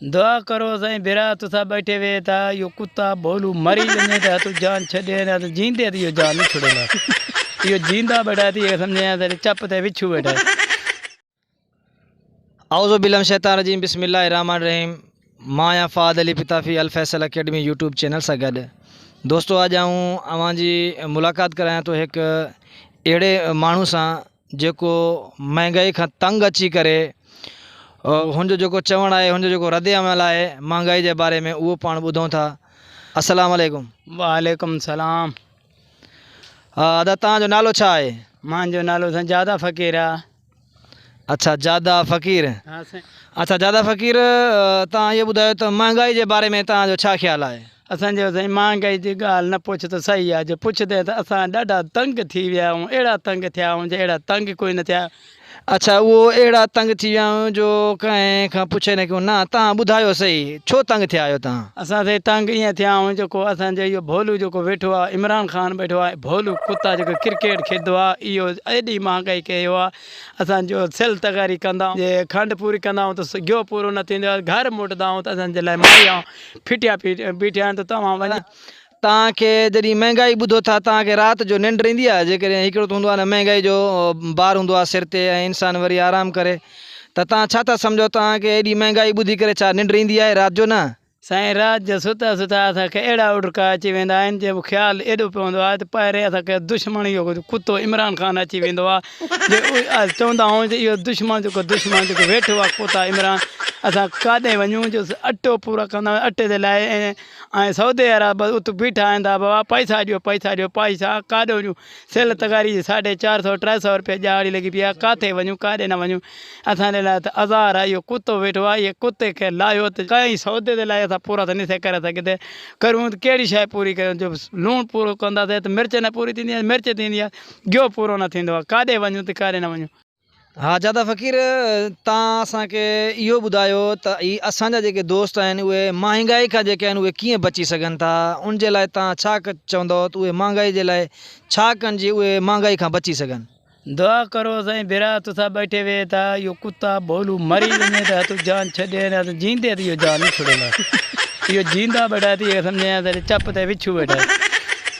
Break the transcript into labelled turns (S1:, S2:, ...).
S1: دعا ڪرو سائين برا تسا بيٺي وي تا يو کتا بولو مري وني تا تو جان ڇڏي نه تو جيندي تي يو جان نه ڇڙي نه يو جيندا بيٺا تي سمجھي نه تي چپ تي وچھو بيٺا اعوذ
S2: بالله من الشيطان الرجيم بسم الله الرحمن الرحيم مان آهيان Fahad Ali Patafi Alfaisal academy YouTube channel سان گڏ دوستو اڄ آئون اوهان جي ملاقات ڪرايان ٿو هڪ اهڙي ماڻهو سان جيڪو مهانگائي کان تنگ اچي ڪري هن جو جيڪو چوڻ آهي هن جو جيڪو رد عمل آهي مهانگائي جي باري ۾ اهو پاڻ ٻڌون ٿا السلام عليڪم وعليڪم السلام ادا تان جو نالو ڇا آهي مان جو نالو سان
S1: جادا فقير آ اچھا
S2: جادا فقير اچھا
S1: جادا فقير
S2: تان اهو ٻڌايو ته مهانگائي جي باري ۾ تان جو ڇا خيال آهي اسان چيو سائين مهانگائي
S1: جي ڳالهه نه پڇ ته صحيح آ جي پڇندين ته اسان ڏاڍا تنگ ٿي ويا آهيون اهڙا تنگ ٿيا آهيون جي اهڙا تنگ ڪوئي نه ٿيا اڇا اهو
S2: اهڙا تنگ ٿي ويا آهيون جو ڪنهن کان پڇي نه ڪيون نه تهان ٻڌايو صحيح ڇو تنگ ٿيا آهيو تهان. اسان سائين تنگ ائين
S1: ٿيا آهيون جيڪو اسان جو اهو ڀولو جيڪو ويٺو آ عمران خان ٻيٺو آ ڀولو ڪتا جيڪو ڪرڪيٽ کيڏندو آ اهو ايڏي مهانگائي ڪئي ويو آ اسان جو سيل تغاري ڪندا آهيون جي کنڊ پوري ڪندا آهيون ته گيو پورو نه ٿيندو آ گهر موٽندا آهيون ته اسان جي لاء ماريا ڦٽيا بيٺي آهن ته توهان وڃي. توهان کي
S2: جڏهن مهنگائي ٻڌو ٿا توهان کي رات جو ننڊ ايندي آهي جيڪڏهن هڪڙو ته هوندو آهي نه مهنگائي جو بار هوندو آهي سر تي ۽ انسان وري آرام ڪري ته توهان ڇا ٿا سمجهو توهان کي ايڏي مهنگائي ٻڌي ڪري ڇا ننڊ ايندي آهي رات جو نه سائين رات جو
S1: ستا ستا اسان کي اهڙا اوڏڪا اچي ويندا آهن جنهن جو خيال ايڏو پوندو آهي ته پهرين اسان کي دشمن اهو ڪتو عمران خان اچي ويندو آهي جي اهي آيس چوندا هئون جي اهو دشمن جيڪو دشمن جيڪو ويٺو آهي ڪوتا عمران اسان ڪاڏي وڃون جو اٽو پورا ڪندا هئا اٽي جي لاء ۽ ۽ سعودي عرب بس ات بيٺا آهندا بابا پئسا ڏيو پئسا ڏيو پئسا ڪاڏي وڃون سيل تغاري جي ساڍي چار سؤ ٽي سؤ روپيا ڄاڙي لڳي پيا ڪاٿي وڃون ڪاڏي نه وڃون اسان جي لاء ته عزار آهي اهو ڪتو ويٺو آهي اهي ڪتي کي لاهيو ته ڪئين سعودي جي لاء اسان پورا ته ني سي ڪري سگهي ته ڪرون ته ڪهڙي شاهي پوري ڪريون جو لوڻ پورو ڪندا سي ته مرچ نه پوري ٿيندي آهي مرچ ٿيندي آهي گيو پورو نه ٿيندو آ. ڪاڏي وڃون ته ڪاڏي نه وڃون. ها جاده
S2: فقير تان اسان کي اهو ٻڌايو ته هي اسان جا جيڪي دوست آهن اهي مهانگائي کان جيڪي آهن اهي ڪيئن بچي سگهن ٿا ان جي لاء تان ڇا چوندؤ ته اهي مهانگائي جي لاء ڇا ڪن جي اهي مهانگائي کان بچي سگهن. دعا ڪرو
S1: سائين برا تسا ٻيٺي ويهي ٿا اهو ڪتا ڀولو مري وڃي ته هتو جان ڇڏي نه ته جيندي ته اهو جان نه ڇڙينداسين اهو جيندا ٻيٺا ٿي اهي سمجهين ها ساري چپ تي وڇو ويٺا آهن.